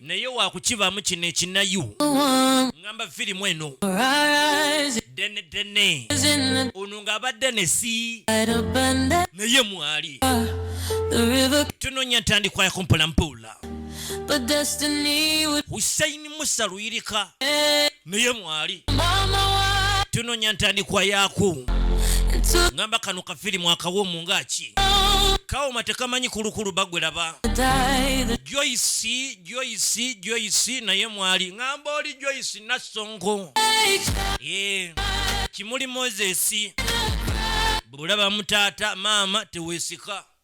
naye wakukibaamu kino ekinayu ŋamba firimu eno dene dene ono ng'abadde nesi naye mwali tunonya ntandikwa yakumpola mpola husaini musa luyirika naye mwali tunonya ntandikwa yaku ngamba kano kafirimu akawomu ngaki kawoma tekamanyi kulukulu bagwelaba joyce joyce joyce naye mwali ngamba oli joyce nasongo yeah. kimuli moses bulaba mutaata maama tewesika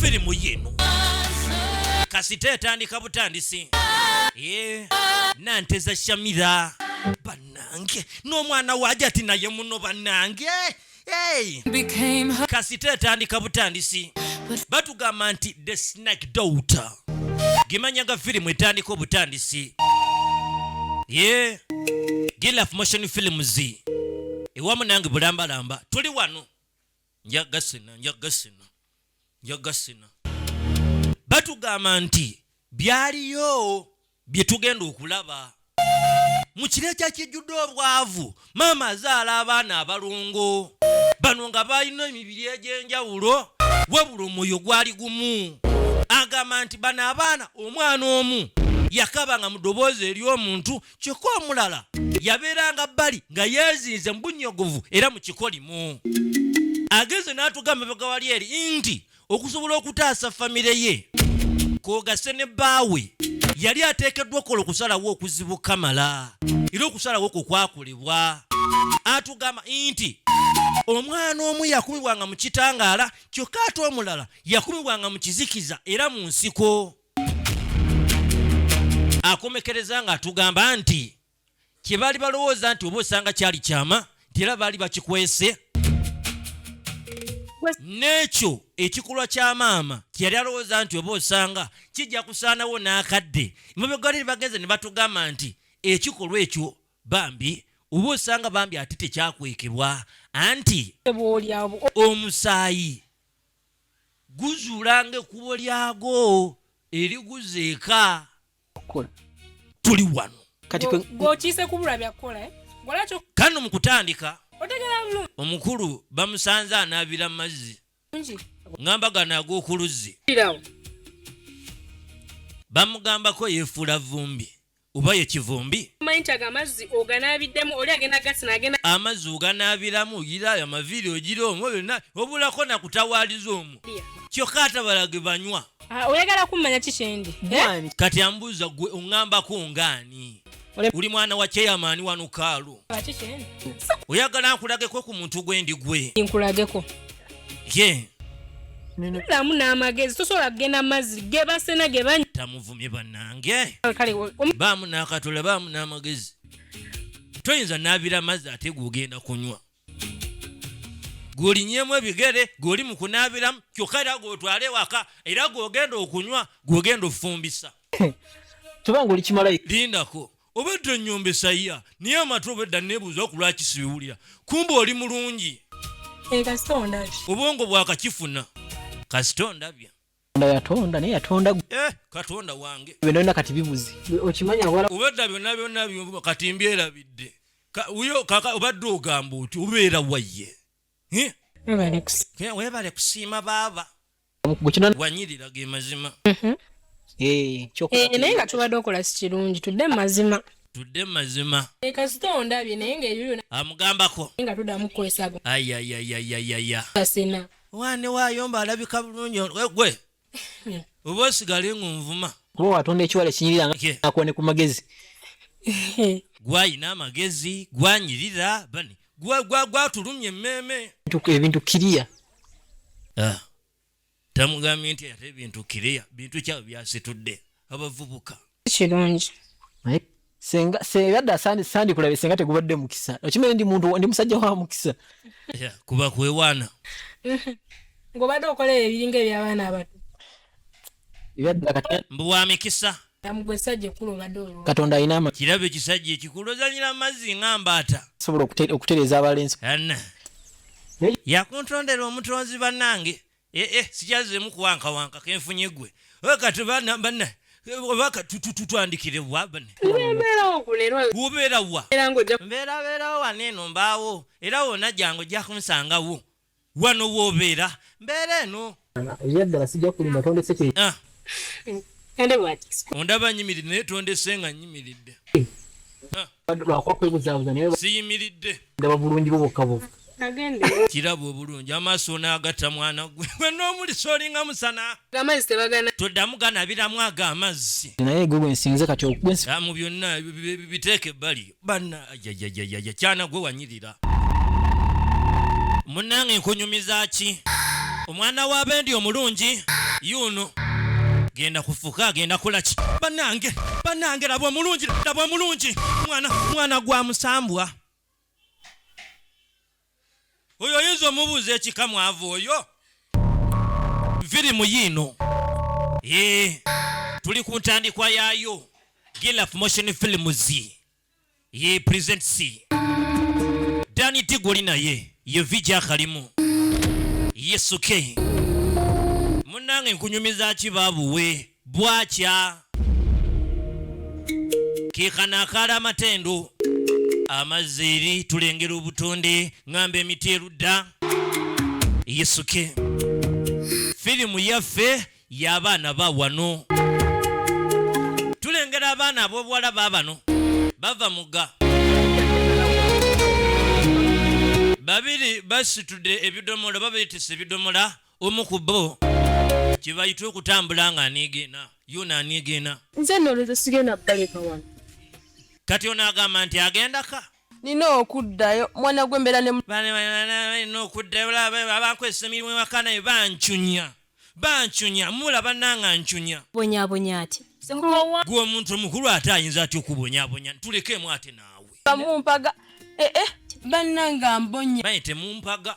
firimu yino kasita etandika butandisi ye nanteza shamira banange n'omwana waje ati naye muno banange hey. kasita etandika butandisi batugamba nti the snack daughter gimanyaga firimu etandika obutandisi ye gilaf motion films ewamu nange bulambalamba tuli wano nja gasina nja gasina nja gasina batugamba nti byaliyo bye tugenda okulaba mu kiro ekyakijjudde obwavu maama azaala abaana abalongo bano nga balina emibiri egy'enjawulo wabula omwoyo gwali gumu agamba nti bano abaana omwana omu yakaba nga mu ddoboozi eri omuntu kyokka omulala yabeeranga bbali nga yeezinze mu bunnyogovu era mu kikolimu agenze n'atugamba bega wali eri nti okusobola okutaasa famire ye kwogase ne bbaawe yali ateekeddwa okukola okusalawo okuzibu kamala era okusalawo kwo kwakolebwa atugamba nti omwana omu yakumibwanga mu kitangaala kyokka ate omulala yakumibwanga mu kizikiza era mu nsiko akomekereza nga atugamba nti kyebaali balowooza nti oba osanga kyali kyama nti era baali bakikwese n'ekyo ekikulwa kya maama kyeyali alowooza nti oba osanga kijja kusaanawo n'akadde mubegwaliri bagenze ne batugamba nti ekikolwa ekyo bambi oba osanga bambi ate tekyakwekebwa anti omusaayi guzuulanga ekkubo lyago eriguza eka tuli wano kati gwokiise kubula byakukola eh? golakyo kano mu kutandika omukulu bamusanze anaabira mazzi ngamba gano ag'okuluzzi bamugambako yeefuula vumbi oba ye kivumbi omanyi nti ago amazzi oganaabiddemu oli agenda gasi nagenda amazzi oganaabiramu ogira ayo amaviiri ogira omwo byonna obulako nakutawaaliza omwo kyokka atabala ge banywa ah, oyagala kummanya ki kyendi eh? kati ambuuza gwe oŋŋambako ngaani oli mwana wa cheyamaani wano kaalu oyagala nkulageko ku muntu gwendi gwe nkulageko ye lamu n'amagezi tosobola kugenda mazzi ge basena ge bany tamuvumye bannange baamu n'akatula baamu n'amagezi toyinza naabira amazzi ate gwogenda kunywa gwolinyemu ebigere gwoli mu kunaabiramu kyokka era gwotwale waka era gwogenda okunywa gwogenda ofumbisa kubanga oli kimalayika lindako obedda enyomba esaya naye amatu obedda nebuuza ku lwaki sibiwulira kumba oli mulungi obwongo bwakakifuna kasita ondabya yatonda naye yatonda eh, katonda wange byona kati bibuze okimanya wala obedda byona byona byo kati mbyerabidde uyo kaka obadde ogamba oti obeera wayye webale kusiima baaba wanyirira ge mazima mhm. eh, eh, naye nga tubadde okola si kirungi tudde mu mazima tudde mu mazima eh, kasita ondabye naye ngaeyo amugambako nga tuddamu kukwesago ayayayayayaya kasina wane wayomba alabika bulungi gwe hmm. oba osigale ngunvuma kuba watonda ekiwala ekinyirira ngakuwa ne ku magezi gwayina amagezi gwanyirira bani gwatulumya emmeeme ebintu kiriya ah. tamugambye nti ate ebintu kiriya bintu kyabo byasitudde abavubuka kirungi senga senga da sandi sandi kulabe senga tegubadde mukisa okimanyi ndi muntu ndi musajja wa mukisa yeah, kuba kwewaana ngobadde okola ebiringa ebyabaana abato mbu wa mikisa katonda alina ama kirabo ekisajja ekikulu ozanyira amazzi nga mbaata sobola okutereeza abalenzi yakuntondera omutonzi bannange ee eh, eh, sikyazemu kuwankawanka kenfunye gwe kati bana bana oba tututwandikire wabeerawokubeerawa mbeerabeerawo waneeno mbaawo era wona jangu ojja kunsangawo Wano w'obeera mbeera eno. Ebyaddala sijja kulimba tondese kye. Ondaba nyimiridde naye tondese nga nyimiridde. Lwakuba kwebuzaabuza naye siyimiridde. Ndaba bulungi bwo bwokka bwokka. kiraba obulungi amaaso onaagata mwana gwe gwe n'omulisa olinga musana toddamu ganabiramu ago amazzi mu byonna biteeka ebbali bana yayayayaya kyana gwe wanyirira munange nkunyumiza ki omwana wa bendi omulungi yuno genda kufuka agenda kulaki banange banange laba omulungi laba omulungi mwana mwana gwa musambwa oyo oyinza omubuuza ekika mwavu oyo firimu yiino ye tuli ku ntandikwa yaayo gilaf motion films ye presents dani tiguli naye ye vija kalimu yesuke munange nkunyumiza ki baabuwe bwakya kikanakaala amatendo amazzi eri tulengera obutonde ngamba emiti erudda yisuke firimu yaffe y'abaana ba wano tulengera abaana ab'obuwala ba bano bava muga babiri basitude ebidomola babaitisa ebidomola omu ku bo kye bayita okutambula nga aniigeena yona aniigeena nze nolwekyo sigenda baleka wano kati ono agamba nti agendaka nina okuddayo mwana gwe mbeera nina okuddayo abankozesa emirimu ewaka naye bancunya bancunya mula bananga ncunya bonyabonya ati gwe omuntu omukulu ate ayinza atya okubonyabonya tulekemu ate naawe bamumpaga ee eh, eh, bananga mbonya baye temumpaga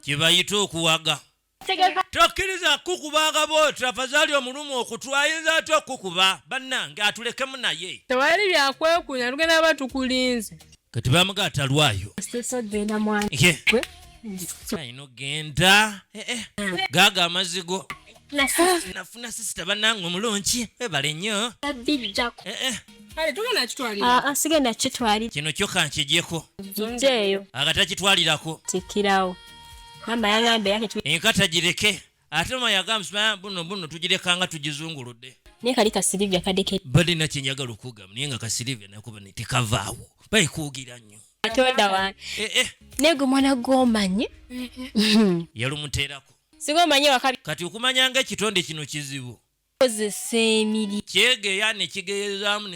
kyebayita okuwaga tokkiriza kukuba akabooti afazali omulumu okutu ayinza atya okukuba bannange atulekemu naye tewali byakwekunya lugenda ba tukulinze kati bamuga atalwayo ayina ogenda eh, eh. gaga amazigo nafuna sisita banange omulungi webale nnyo bijjako eh, eh. kale tugenda kitwalira ah, sigenda kitwalira kino kyo kankijeko nzeeyo agatakitwalirako tikirawo mama yagamba yake enkata gireke ate mama yagamba buno buno tugirekanga tugizunguludde naye kali kasilivia kadeke bade nakyenjagala okugamba naye nga kasilivia nakuba tekavaawo bayikuugira nnyo katonda wange eh, naye gwe mwana gwomanyi yalumuteerako singa omanyi ewaka kati okumanya nga ekitonde kino kizibu kozesa emiri kyegeya ne kigeyezaamu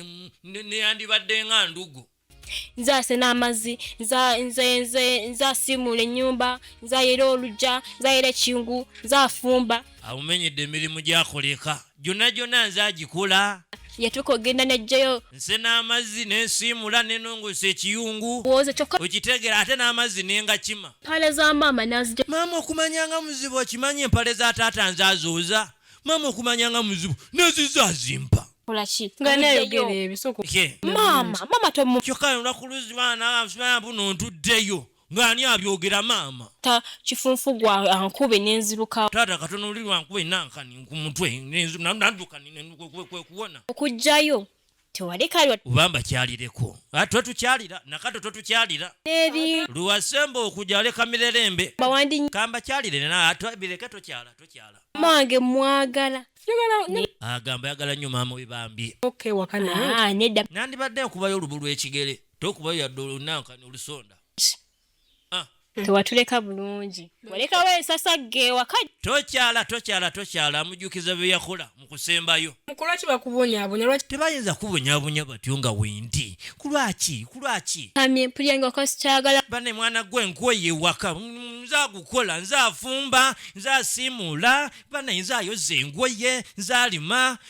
neyandibadde nga ndugu nze asena amazzi nze asiimuula ennyumba nze ayera olujja nze ayera ekingu nze afumba awumenyedde emirimu gyakoleka gyonna gyonna nze agikola yatuuka okugenda nejjayo nse n'amazzi nensiimula nenongosa ekiyungu wooza kyokka okitegera ate n'amazzi nengakima mpale za maama nazija maama okumanya nga muzibu okimanyi empale za taata nze azuuza maama okumanya nga muzibu neziza azimpa kolaki nga nayogera ebisoko maama maama tomu kyokka olunaku luzi maama nawe amusumaya mbu nontuddeyo Nga ani abyogera maama. Ta kifunfu gwa ankube nenziruka. Taata katono liri ankube nankani ku mutwe nanduka kwekuwona. Okujjayo tewalekayo ubamba kyalireko ah, twetukyalira nakato twetukyalira eri luwasemba okuja aleka mirerembe bawandi kamba kyalire na bireke tokyala tokyala mange mwagala agamba yagala nyo mama we bambi okay wakana ah, nedda nandibadde nkubayo olubu lwekigere tokuba yadde olunankani olusonda ah. tewatuleka bulungi walekawo ensasagge ewaka tokyala tokyala tokyala amujukiza byeyakola mukusembayo mukulwaki bakubonyabonya lwaki tebayinza kubonyabonya batyo nga wendi kulwaki kulwaki amye mpulyange wakasikyagala bane mwana gwe nkwoye ewaka nze agukola nze afumba nze asiimuula bane nze ayoza engoye nze alima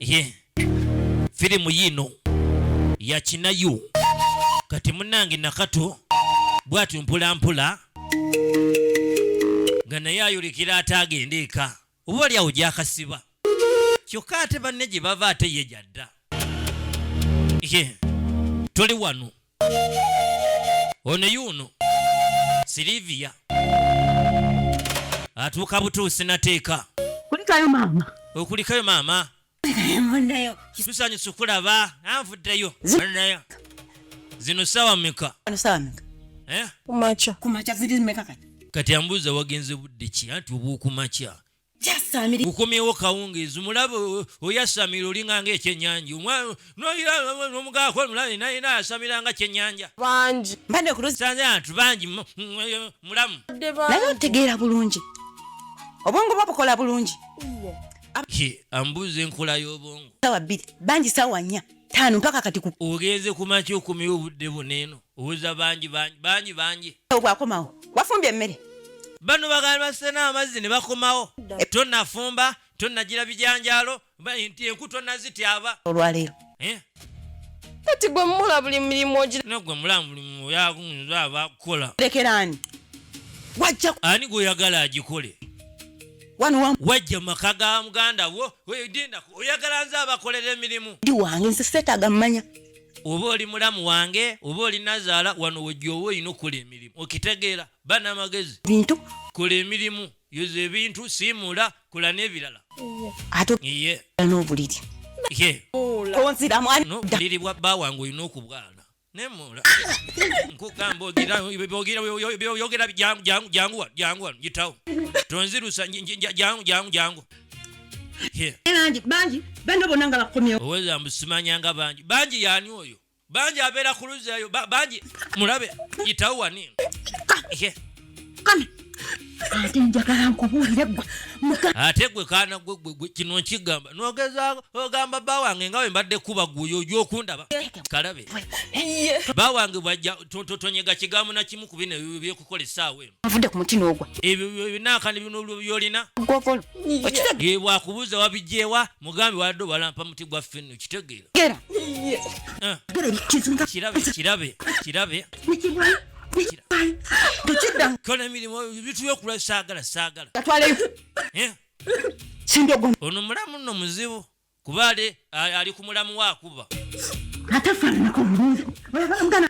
ye firimu yiino yakinayo kati munange nakato bwatyo mpulampola nga naye ayolekera ate agenda eka oba oli awo gyakasiba kyokka ate banne gye bava ate ye gyadda ye tuli wano ono yuuno silivia atuuka butuusi nateeka kulikayo maama okulikayo maama tusanyusa okulaba nanvuddeyo zino sawa meka eh? kati ambuuza wagenze budde ki anti obwokumakya ukomyewo kawungeezi mulaba oyasamira olinga nga ekyenyanja omugako omulabi naye nayasamira nga kyenyanja bangi bantu bangi mulamu naye otegeera bulungi obwongo bwa bukola bulungi ambuuza enkola y'obwongo sawa bbiri bangi sawa nnya taano mpaka kati ogenze kumakya okomyewo obudde buneeno Uza bangi bangi bangi bangi. Obwa komawo. Wafumbye mmere. Bano bagala basena amazzi ne bakomawo. To nafumba, to najira bijanjalo, ba inti enku to naziti aba. Olwa lero. Eh. Kati gwe mula buli mirimu ogira. No gwe mula buli mirimu ya kunza aba kola. Lekerani. Wajja. Ani gwe yagala ajikole. Wano wa. Wajja makaga muganda wo. Oyo dinda. Oyagala nza abakolere mirimu. Di wange nse seta gamanya. oba oli mulamu wange oba oli nazaala wano wejjoowa olina okukola emirimu okitegeera bana amagezi bintu kola emirimu yoza ebintu siimula kola n'ebirala ate n'obuliri obuliri bwa bba wange olina okubwana nemula nkugamba ogira jangu jangu jangu wano jitawo tonzirusa jangu jangu jangu bangi bangi bano bona nga bakomyewo oweza mbusimanya nga bangi bangi yani oyo bangi abeera ku luzzi eyo bangi mulabe yitawo wani ate njagala nkubuulire gwe ate gwe kaana gwe kino nkigamba nogezaako ogamba bba wange nga wembadde kuba guyo oja okundaba kalabe bba wange bwajja tonyega kigambo nakimu ku bino ebyo byokukola essaawa eno nvudde ku muti n'ogwa ebyo binaakani bino byolina gwogolo okitegeera bwakubuuza wabigyewa mugambi wadde obalampa muti gwa fenno okitegeera gera eh. kirabe kirabe kirabe kola emirimu ebintu byokula saagala saagala eh. ono mulamu nno muzibu kuba ale ali ku mulamu wakuba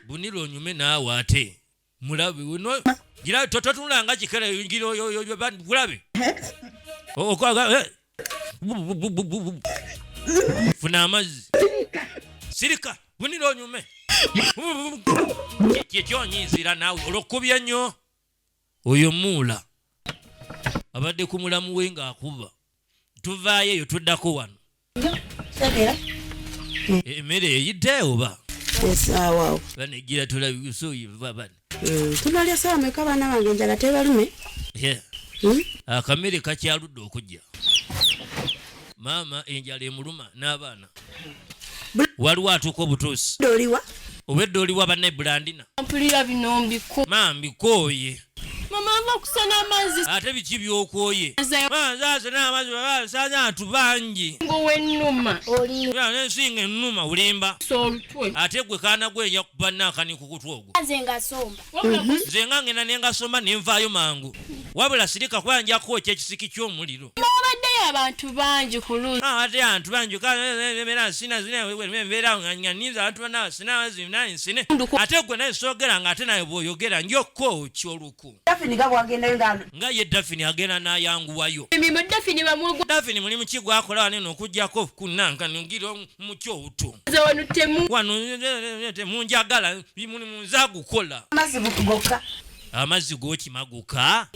bunira onyume naawe ate mulabe uno gira toto tunanga kikala ngira yo yo ban mulabe o kwa ga funa amazi sirika bunira onyume kyekyonyinzira nawe olwokubya nnyo oyo muula abadde ku mulamu we ng'akuba tuvaayo eyo tuddako wano emmere eh, eyidde oba banejjira tulabisoyivabane mm, tunalya sawa meka baana bange njala tebalume hmm? akamere kakyaludde okujja maama enjala emuluma n'abaana waliwo atuuka obutuusi obwedda oliwa banne bulandina ma mbikooye ate biki byokwoye abantu bangi ensinga enuma olimba ate gwe kaana gwenya kubanakani kukutwa ogwo nze nga ngenda nengasomba nenvaayo mangu wabula sirika kuba njakuwa ekyekisiki kyomuliro Mwabaddeyo abantu bangi ku luusi. Ate abantu bangi mbeera nsina mbeera nga ninza abantu banawe sina bazina nsine ate gwe naye soogera nga ate naye bw'oyogera njokka oki oluku. Dafini nga bwagendayo nga. Nga ye Dafini agenda n'ayanguwayo. Emirimu Dafini bamwogo. Dafini mulimu ki gw'akola wano eno okuggyako kunnanka ngira mu kyoto. Nze wano temu. Wano temunjagala mulimu nze agukola. Amazibu gokka. amazzi gokimaguka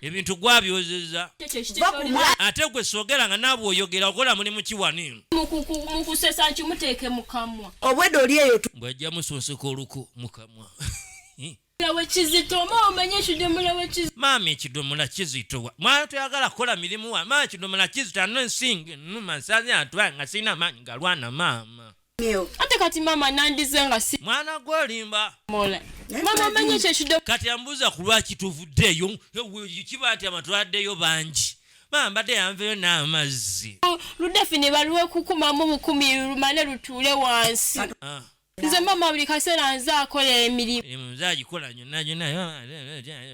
ebintu gwabyozeza ate gwe sogera nga naabwe oyogera okola mulimu kiwani mukusesa nti muteeke mukamwa obwedda oli eyo bwajja musunsika oluku mukamwa maama ekidomola kizito mwana toyagala kukola mirimu wa maama ekidomola kizito ano ensinga enuma nsazi atwa nga sirina maanyi galwana maama ate kati maama nandize nga si mwana gwe olimba mola maama amanyi ekyo ekido kati ambuuza ku lwaki tuvuddeeyo kiba nti amatwaddeyo bangi maama mbadde yanveyo n'amazzi oh, ludafi ne balwekukumamu bukumi lumale lutuule wansi ah. nze maama buli kaseera nze akola emirimu nze agikola nyonna gyonna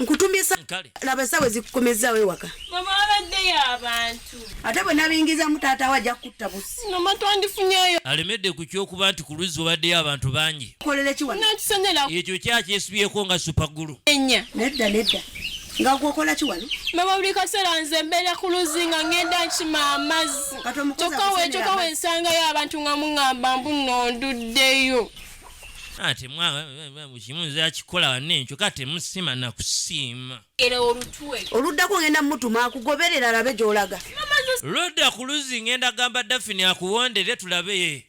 nkutumye laba esawa ezikukomezaawo ewaka ate bwe nabingizamu taata we ajja kukutta busiamatwandifunyeyo alemedde ku kyokuba nti ku luzzi obaddeyo abantu bangi ekyo kyakyesibyeko nga supagulu nedda nedda nga gwokola ki wano mama buli kaseera nze mbeera ku luzzi nga ngenda nkima amazzi kyokka wekyoka wensangayo abantu nga muŋamba mbu nonduddeyo ate kimu nze akikola wane nkyo ka temusima nakusiima oluddako ngenda mutuma akugoberera alabe gyolaga lwodda ku luzzi ngenda gamba dafini akuwondere tulabe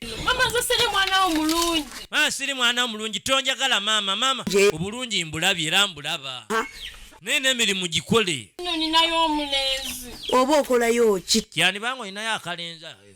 maa siri mwana wo mulungi tonjagala maama maama obulungi mbulabye era mbulaba naye n'emirimu gikole oba okolayo ki yanibanga olinayo akalenzi ayo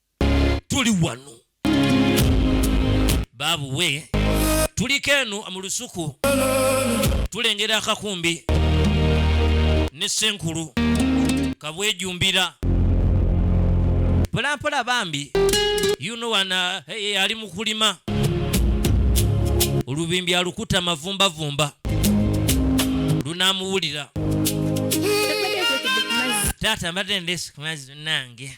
tuli wano baabu we tuliko eno mu lusuku tulengera akakumbi ne senkulu kabwejumbira polampola bambi yuno wana hey, eh, eh, ali mukulima olubimbi alukuta mavumbavumba lunamuwulira taata mbadde ndesikumazzi nange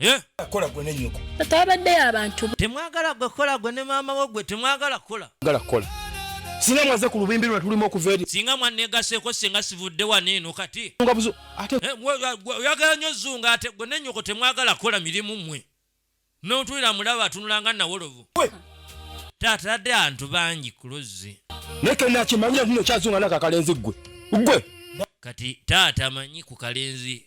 Eh? kola gwe ne nyoko atabadde abantu temwagala gwe kola gwe ne maama wo gwe temwagala kola gala kola singa mwaze ku lubimbi lwe tulimu okuva eri singa mwanegaseko singa sivudde wano eno kati nga buzo ate eh, oyagala nyo zunga ate gwe ne nyoko temwagala kola mirimu mwe notulira mulaba atunulanga nawolovu tatadde antu bangi ku luzzi naye kenakimanyira tuno kyazunga nakakalenzi gwe gwe kati taata manyi ku kalenzi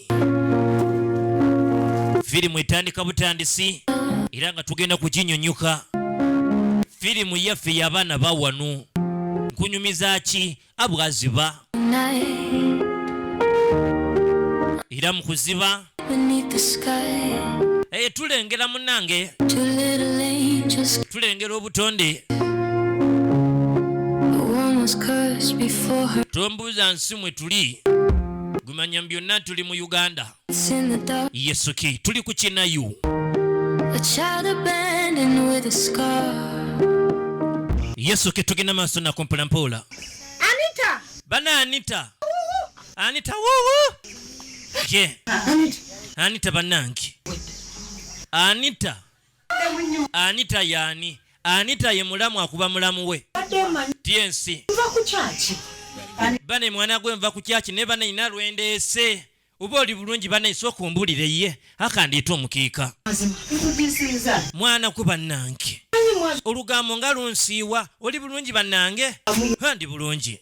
firimu etandika butandisi era nga tugenda kuginyunyuka firimu yaffe yabaana bawanu nkunyumiza ki abwaziba era mu kuziba eye eh, tulengera munange tulengera obutonde tombuuza nsi mwe tuli gumanya byonna tuli mu uganda yesuki tuli ku kinayu yesu ke tugenda maaso nako mpolampola anita bana anita anita wuwu je anita banange anita Anita yani? Anita ye mulamu akuba mulamu we. Tiensi. Nva ku kyaki. Bane mwana gwe nva ku kyaki ne bane ina lwendeese. Uba oli bulungi bane isooka ombulire ye akandiita omukiika. Mwana ku bannange. Olugambo nga lunsiiwa oli bulungi bannange. Handi bulungi.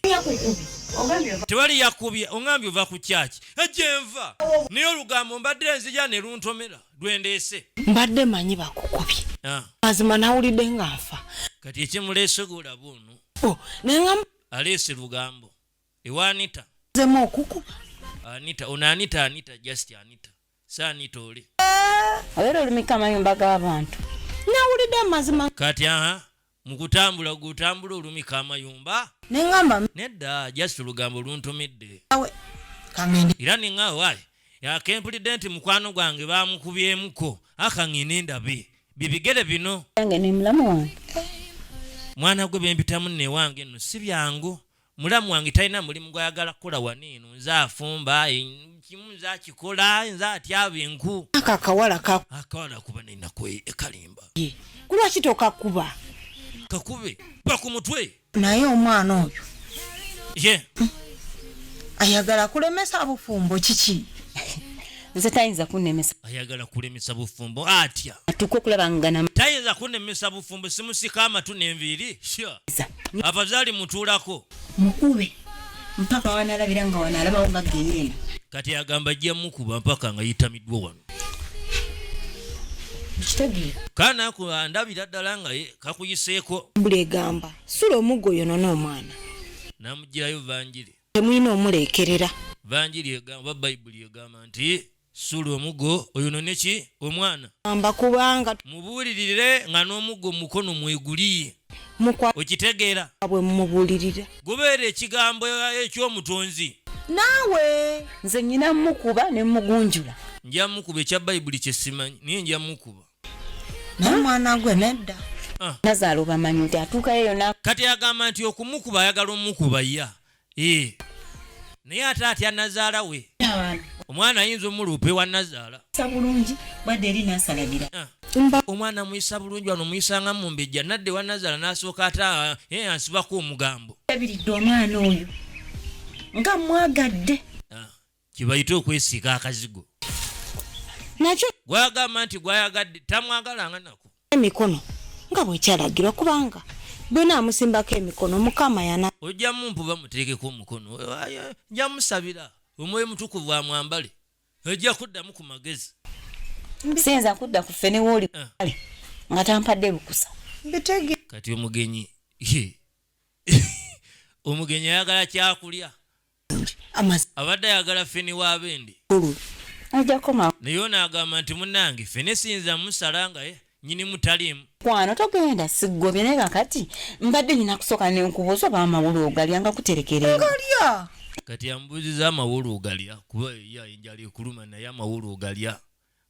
Tewali yakubye ongambye ova ku kyaki. Ejenva. Naye olugambo mbadde nzija ne luntomera. lwendeese mbadde manyi bakukubye ah. mazima nawulidde nga nfa kati ekimuleese golaba ono oh, aleese lugambo ewanita zemu okukuba anita ono anita anita just anita si anita oli eh, obeera olumika amayumba g'abantu nawulidde amazima kati aha mukutambula gwe otambula olumika amayumba nengamba nedda just olugambo luntumidde era ninga wayi yakempulidde nti mukwano gwange bamukubyemuko akangini ndabi bibigere bino yange nemulamu wange mwana gwe bempitamu newange no si byangu mulamu wange talina mulimu gwayagala kukola wano eno nze afumba kimu nze akikola nze atyaba enku ako akawala ka akawala kuba nenaku e, ekalimba kulwaki tokakuba kakube kuba ku mutwe naye omwana oyo ye ayagala kulemesa bufumbo kiki nze tayinza kunemesa ayagala kulemesa bufumbo atya atuka okulaba ngana tayinza kunemesa bufumbo simusika amatu nenviiri abazaali mutuulako mukube mpaka wanalabira nga wanalabawo nga geyeena kati agamba ajja mukuba mpaka nga yitamiddwa wano kana ndabira ddala nga kakuyiseeko mbuli egamba sula omuggo yonona omwana namugirayo vanjiri temulina omuleekerera. Vanjiri egamba oba Bayibuli egamba nti, Suula omuggo oyonone ki? Omwana. Amba kubanga. Mubuulirire nga n'omuggo mu mukono mweguli. Mukwa. Okitegeera? Bwe mumubuulirira. Gubeere ekigambo eky'Omutonzi. Naawe. Nze nnyina mmukuba ne mmugunjula. Nja mmukuba ekya Bayibuli kye simanyi, naye nja mmukuba. naye mwana gwe nedda ah. nazaala obamanyi nti atuukayo yona kati agamba nti okumukuba ayagala omukuba ya eh. naye ate atya nazaala we omwana ayinza omuluupa ewa nazaala sabulungi bwadde eri nasalagira ah. omwana muyisa bulungi wano muyisanga mu mbejja nadde wa nazaala nasooka ate ah, eh, ansibako omugambo abiridde omwana oyo nga mwagadde kyebayita okwesiika akazigo nakyo gwagamba nti gwayagadde tamwagalanga nako emikono nga bwekyalagirwa kubanga bwena amusimbako emikono mukama yana ojja mumpuba muteekeko omukono nja musabira omwoyo mutukuvu amwambale ojja kuddamu ku magezi siyinza kudda ku ffe newooli ah. kale nga tampadde lukusa bitege kati omugenyi omugenyi ayagala kyakulya abadde ayagala feni wa bendi naye ono agamba nti munange fene siyinza musala nga eh, nyini mutaliimu kwano togenda sigobye naye kakati mbadde nyina kusooka nenkubuuza oba amawulu ogalya nga kuterekeregalya kati ambuuziza amawulu ogalya kuba yayinjala ekuluma naye amawulu ogalya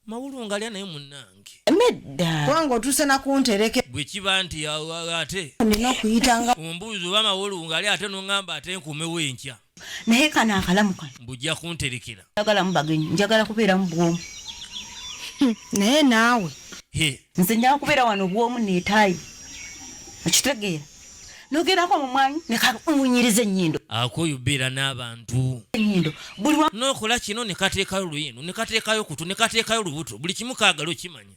mawulu ngalya naye munange nedda kubanga otuuse nakuntereke bwe kiba nti ate nina okuyitanga ombuuzi oba mawulu ngali ate nongamba ate nkumewo enkya naye kano akalamu kano mbujja kunterekera njagala mubagenyi njagala kubeera mu bwomu hmm, naye naawe nze njagala kubeera wano bwomu netaayi okitegeera nogerako mumwanyi nekamunyiriza enyindo akuyubira n'abantu enyindo buli wa nokola kino nekateekayo luyino nekateekayo kutu nekateekayo lubuto buli kimu kaagala okimanya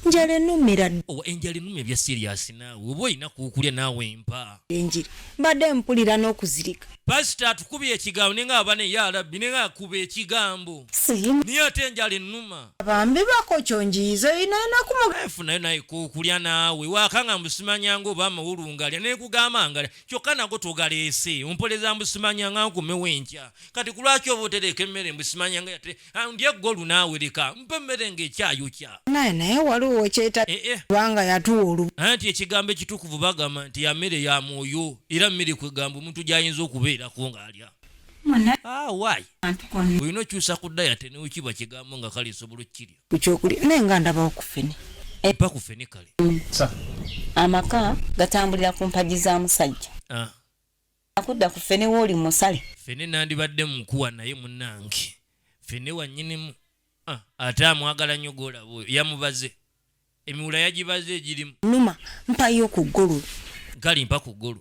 njala enumira owa enjala enuma ebya siriyasi naawe oba olina kuukulya naawe empa enjiri mbadde mpulira n'okuzirika pasita atukubye ekigambo nenga abane ya rabbi nenga akuba ekigambo siyimu niye ate enjala enuma Bambi bakocho njiizo ino enaku mu life nayo naye kokulya naawe wakanga mbusimanya nga oba amawulu ngalya nekugamba ngalya kyokka nago togaleese ompoleza mbusimanya nga nkomewo enkya kati kulwaki oba otereeka emmere mbusimanya nga yate ah, ndye golu naawe leka mpa emmere nga ekyayokya naye naye waliwo wekyeta eh, eh. kubanga yatuwa olubu anti ekigambo ekitukuvu bagamba nti yamere ya mwoyo era mmere kwegamba omuntu gyayinza okubeerako ng'alya ah, why olina okyusa ku dayate newekiba kigambo nga kale nsobola okukirya ku kyokulya naye nga ndabawo ku fene epa ku fene kale mm. amaka gatambulira ku mpagi za musajja ah. akudda ku fene wooli musale fene nandibadde mukuwa naye munange fene wanyinimu ah, ate amwagala nnyo golaba oyo yamubaze emiwula yagibaze egirimu numa mpayo ku ggulu gali mpa ku ggulu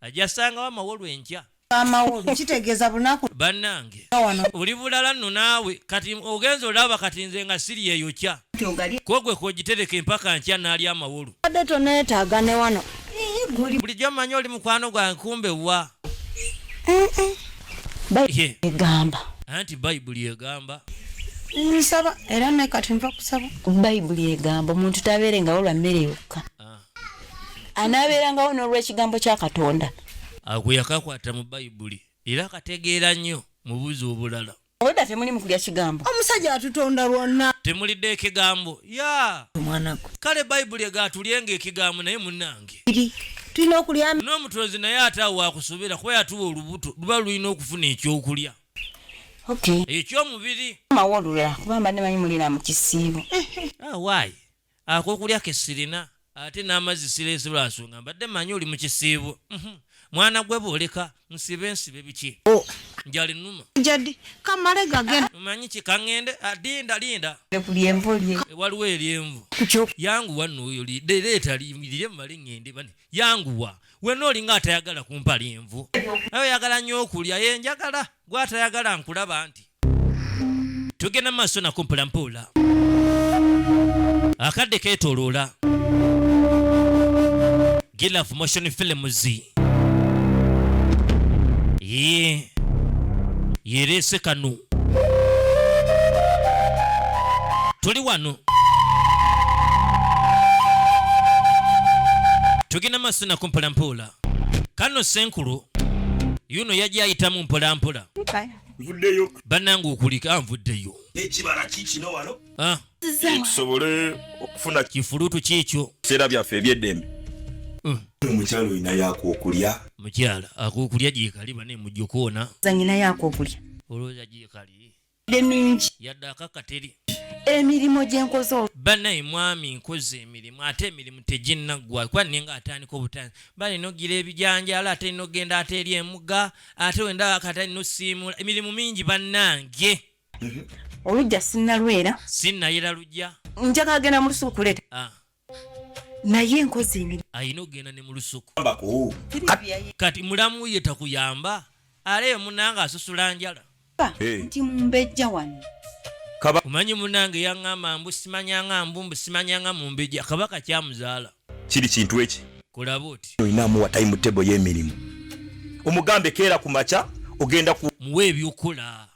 ajasangawa mawolu enkya amawolu kitegeeza bunaku bannange oli bulala nno naawe kati ogenza olaba kati nze nga siri eyo kya kogwe kogitereka empaka nkya naali amawolu adde toneetaaga ne wano bulijjo mmanyi oli mukwano gwa nkumbe wa egamba anti bayibuli egamba nsaba era naye kati nva kusaba bayibuli egamba omuntu tabeere nga wolwa mmere yokka anaabeerangawo n'olw'ekigambo kya katonda agwe yakakwata mu bayibuli era akategeera nnyo mubuzi obulala obwedda temuli mu kulya kigambo omusajja atutonda lwonna temulidde ekigambo ya omwanagwe kale bayibuli egatulyenga ekigambo naye munange tulina okulya n'omutonzi naye ate awo wakusobera kuba yatuwa olubuto luba lulina okufuna ekyokulya ekyomubiri mawolula kuba mbadde manyi mulina mu kisiibo ah, why Akokulya kesirina ate n'amazzi sireese lwa nsonga mbadde manyi oli mu kisiibo. Uhmm mwana gwe bwoleka nsibe nsibe biki? Njali numa. Jadi kamale gagenda. Omanyi ki kangende ah, linda linda. Ku lyenvu lye. Eh, waliwo eryenvu. Yanguwa nno oyo leeta lirye mumale ngende bane. Yanguwa. Wena olinga atayagala kumpa lyenvu. Naye oyagala nnyo okulya. Ye njagala. Gwe atayagala nkulaba nti. tugenda mu maaso nako mpulampuula akadde keetoloola gilaf motion films ye yereese kano tuli wano tugenda maaso nako mpulampuula kano senkulu yuno yajja ayitamu mpulampola nvuddeyo bannange okulika ah, nvuddeyo ekibala kikino wano ah. tusobole okufuna kifulutu kiekyo seera byaffe ebyeddembe hmm. omukyala olina yako okulya mukyala akokulya gyekali bane mujokoona zanyina yako okulya olowooza gyekali emingi yadde akakateri emirimu gyenkoze banaye mwami nkoze emirimu ate emirimu teginnaggwa kuba ninga atandika obutanzi bali nogira ebijanjalo ate nogenda ate eri emuga ate wenda akata no simu emirimu mingi banange olujja sinalwera sinayera lujja njagala agenda mu lusuku kuleta ah. naye nkozi emirimu ayina okugenda ne mu lusuku kati mulamu ye takuyamba aleyo munanga asusula njala eh. nti mumbejja wano omanyi munange yaŋŋamba mbu simanyanga mbu mbu simanyanga mumbejja kabaka kyamuzaala kiri kintu eki kulaba oti olinamuwa time table y'emirimu omugambe keera ku makya ogenda ku muwa ebyokukola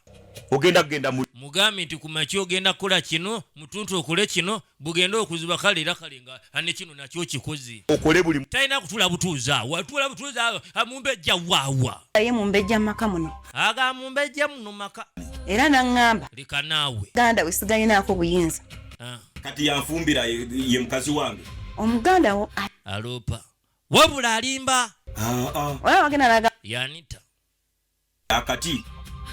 ogenda kugenda mugambe nti ku makya ogenda kukola kino mutuntu okole kino bugenda okuziba kale era kale nga ane kino nakyo kikoze okole buli talina kutula butuuza watula butuuza amumbejja waawa aye mumbejja mumaka muno aga mumbejja muno maka era naŋŋamba leka naawe ganda we sigalinaako buyinza ah. kati yanfumbira ye mukazi wange omuganda wo aloopa wabula alimba ah, ah. olaba wagenda naga yanita akati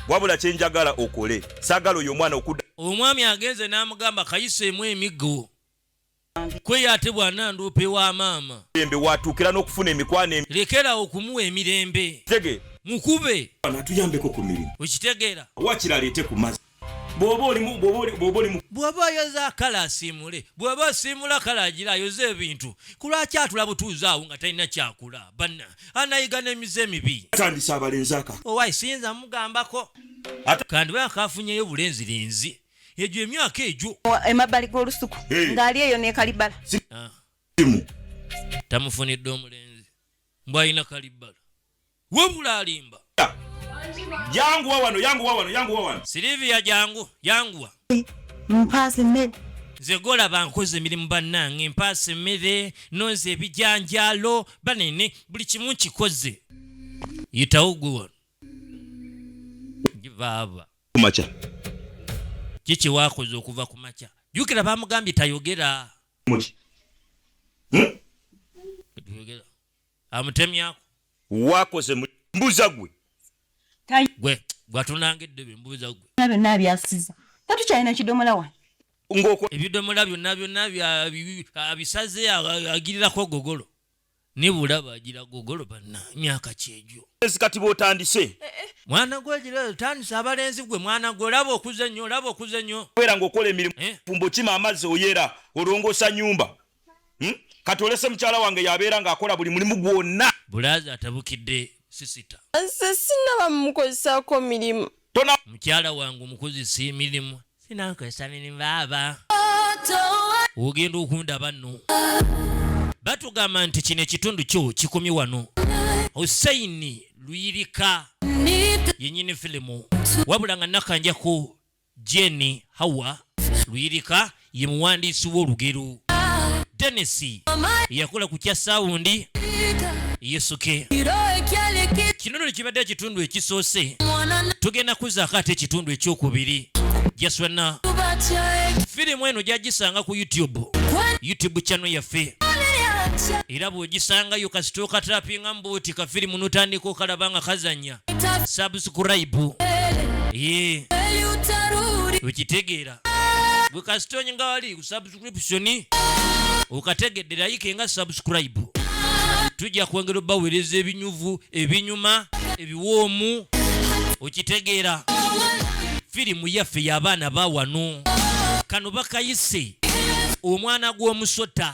wabula kyenjagala okole sagala oyo omwana okuda omwami agenze n'amugamba kayiseemu emiggo kweyo ate bwananduupa ewa maama embe watuukira n'okufuna emikwano lekera okumuwa emirembe tege mukube anatuyambeko ku mirimu okitegeera wakiraleete ku mazzi bwoba olimu bwoba oli- bwoba olimu bw'oba oyoza kale asiimule bw'oba osiimula kale agira ayoze ebintu ku lwaki atula butuuzi awo nga talina kyakula banna anayiga n'emize emibi atandise abalenzi aka owayi siyinza mugambako Ata- kandi bwe akafunyeyo bulenzirenzi egyo emyaka egyo Wa- emabbali g'olusuku Eh. ng'ali eyo nekalibala Ah, simu tamufunidde omulenzi mbwalina kalibbala wabula alimba yanguwa wano yanguwa wano yanguwa wano silivia jangu yanguwa mpaasi mmere nze golaba nkoze emirimu bannange mpaasi mmere nonze ebijanjaalo banene buli kimu nkikoze yitawo gwe wano baaba kumakya kiki wakoze okuva ku makya jukira bamugambye tayogera hmm? amutemyako wakoze mbuza gwe gwe gwatunanga eddebe mbuza gwe byonna byasiza tatukyalina kidomola wa ngoko ebidomola byonna byonna abisaze agirirako gogolo nibula bagira gogolo banna myaka kyegyo kati bwotandise eh, eh. mwana gwe gira otandise abalenzi gwe mwana gwe olaba okuze nnyo olaba okuze nnyo kubera ngaokola emirimu eh? fumbo kima amazzi oyera olongosa nyumba hmm? kati olese mukyala wange yabeera ng'akola buli mulimu gwonna bulaazi atabukidde sisita nze sinaba mukozesako mirimu tona mukyala wange omukozesa emirimu sinankozesa mirimu baaba ogenda okundaba nno batugamba nti kino ekitundu kyo kikomye wano husseini luyirika yenyini filimu wabula nga nakanjako Jane Hawa Luyirika ye muwandiisi w'olugero. Dennis yakola ku kya saawundi Yesuke. Kino nno kibadde ekitundu ekisoose. Tugenda kuzaako ate ekitundu ekyokubiri. Jaswana firimu eno gyagisanga ku YouTube, YouTube channel yaffe era bw'ogisangayo kasita okatapinga mbuuti kafirimu n'otandika okalaba nga kazanya subscribe ye ukitegeera gwe kasitony nga wali ku subscription ukategedde layike nga subscribe tujja kwongera obaweereza ebinyuvu ebinyuma ebiwoomu okitegeera firimu yaffe y'abaana ba wano kano bakayise omwana gw'omusota